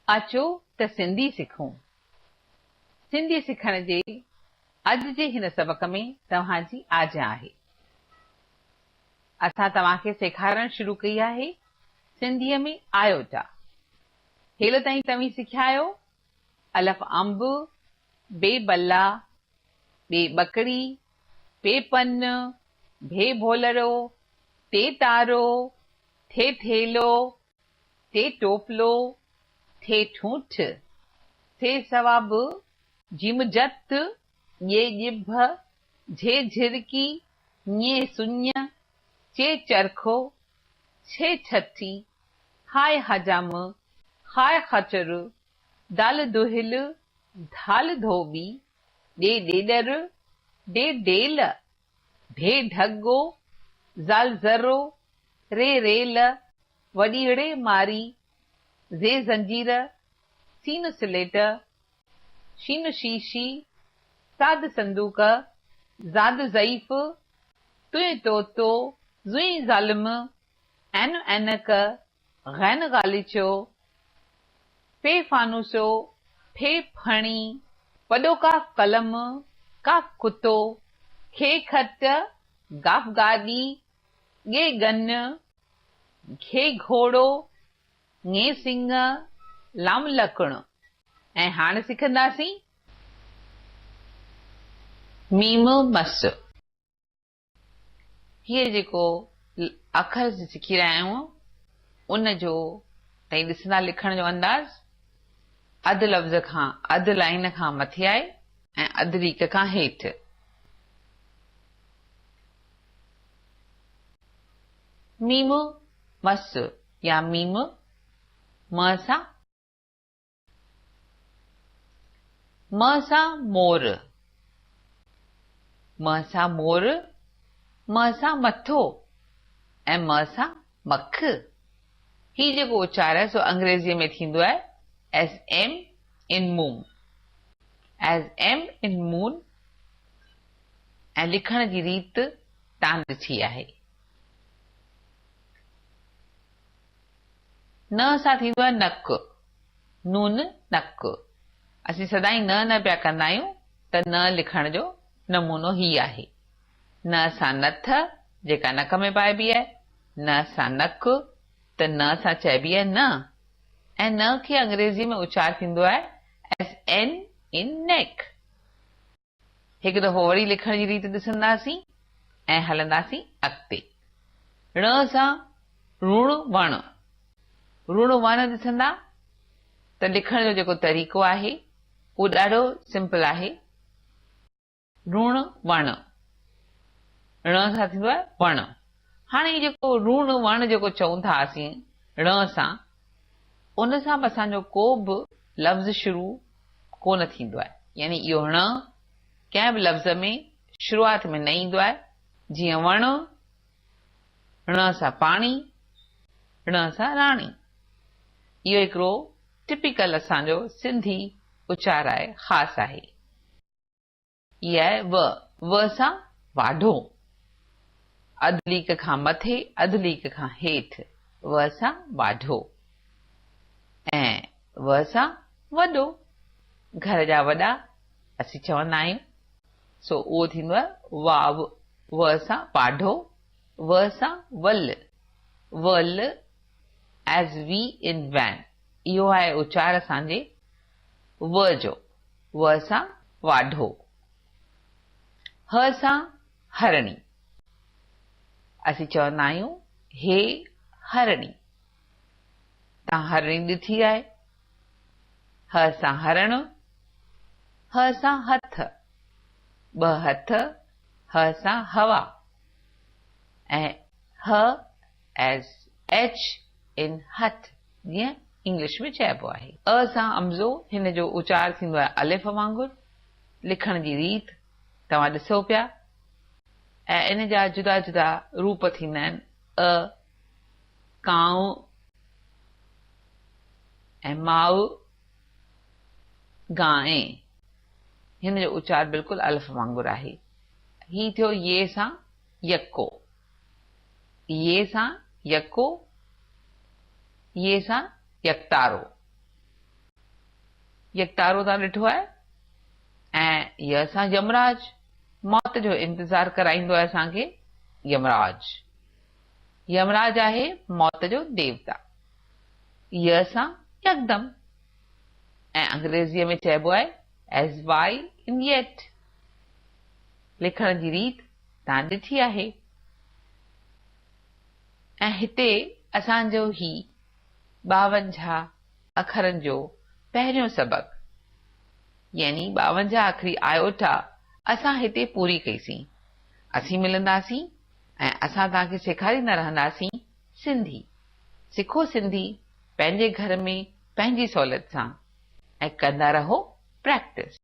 اچو ته سنڌي سکون. سنڌي سکڻ جي اڄ جي هن سبق ۾ توهان جي آجيان آهي. اسان توهان کي سيکارڻ شروع ڪئي آهي سنڌيء ۾ آيوٽا. هيل تائين توهين سکيا آهيو الف انب، بي بلا، ٻي ٻڪڙي، پي پن، ڀي ڀولڙو، تي تارو، ٿي ٿيلهو، ٿي ٽوپلو، ٿي ٺونٺ، ٿي سواب، جيم جت، ڄي ڄڀ، جھي جھرڪي، ڃي سڃ، چي چرخو، ڇي ڇٺي، ھاء حجام، خاء خچر، دال دهل، ڌال ڌوٻي، ڏي ڏيڏر، ڊي ڊيل، ڀي ڍڳو، زال ذرو، ري ريل، وڏيئڙي ماري، زي زنجير، سين سليٽ، شين شيشي، ساد صندوق، زاد ضعيف، تئين تو تو، زئين ظالم، عين عينڪ، غين غاليچو، پي فانوسو، ڦي ڦڻي، پڏو ڪا قلم، ڪا ڪتو، کي کٽ، گاف گاڏي، ڳي ڳن، گھي گھوڙو، ڱي سڱ، لام لڪڻ ۽ هاڻ سکنداسين ميم مس. هيء جيڪو اکر سکي رهيا آهيون، ان جو ۽ ڏسندا لکڻ جو انداز، اڌ لفظ کان اڌ لائين کان مٿي آهي ۽ اڌ ليڪ کان هيٺ. ميم مس يا ميم م سان. م سان مور، م سان مور، م سان مٿو ۽ م سان مک. هي جيڪو اچار آهي سو انگريزيء ۾ ٿيندو آهي As M in Moon، As M in Moon، ۽ لکڻ جي ريت تان ڏٺي آهي. ن سان ٿيندو آهي نڪ، نون نڪ. اسين سدائين ن نه پيا ڪندا آهيون ته ن لکڻ جو نمونو هي آهي، ن سان نٿ جيڪا نڪ ۾ پائبي آهي، ن سان نڪ ته ن سان چئبي آهي نه ۽ ن کي انگريزيء ۾ اچار ٿيندو آهي as N in neck. هڪ دفعو وري لکڻ جي ريت ڏسنداسين ۽ هلنداسين اڳتي. ڙڻ سان روڻ وڻ، روڻ وڻ ڏسندا ته لکڻ جو جيڪو طريقو آهي اهو ڏاڍو سمپل آهي. روڻ وڻ، ڙڻ سان ٿيندو آهي وڻ. هاڻي هي جيڪو روڻ وڻ جيڪو چئون ٿا اسين ڙڻ سان ان سان به اسان جو ڪو به لفظ شروع ڪو نه ٿيندو آهي، يعني اهو ڻ ڪنهن به لفظ ۾ شروعات ۾ نه ايندو آهي، جيئن وڻ، ڻ سان پاڻي، ڙڻ سان راڻي. اهو هڪڙو ٽپيڪل اسان جو سنڌي اچار آهي، خاص آهي. يا و، و سان واڍو، اڌ ليڪ کان مٿي، اڌ ليڪ کان هيٺ، و سان واڍو ۽ و سان وڏو، گهر جا وڏا اسين چوندا آهيون، سو اهو ٿيندو آهي واو، و سان واڍو، و سان ول، ول as we in van، اهو آهي اچار اسان جي و جو. و سان واڍو. ه سان هرڻي. اسين چوندا آهيون هي هرڻي. تان هرڻي ڏٺي آهي. ه سان هرڻ. ه سان هٿ. ٻه هٿ. ه سان هوا. ۽ ه ايس ايڇ ان هٿ جيئن انگلش ۾ چئبو آهي. ء سان امزو هن جو اچار ٿيندو آهي الف وانگر. لکڻ جي ريت توهان ڏسو پيا ۽ ان جا جدا جدا روپ ٿيندا آهن ء ڪانء ۽ ماء گانء. هن جو اچار بلڪل الف وانگر آهي. هي ٿيو ي سان يڪو يي سان يڪو، يي سان يڪتارو، يڪتارو تان ڏٺو آهي ۽ ي سان يمراج، موت جو انتظار ڪرائيندو آهي اسان کي يمراج. يمراج آهي موت جو ديوتا. ي سان يڪدم ۽ انگريزيء ۾ چئبو آهي As y in yet. لکڻ جي ريت. تان ڏٺي آهي ۽ هتي اسان جو هي ٻاونجاهه اکرن جو پهريون سبق يعني ٻاونجاهه اکري آئوٽا اسان هتي پوري ڪئي سين. اسين ملنداسين ۽ اسان تان کي سيکاريندا رهنداسين سنڌي. سکو سنڌي پنهنجي گهر ۾ پنهنجي سهولت سان ۽ ڪندا رهو پريڪٽس.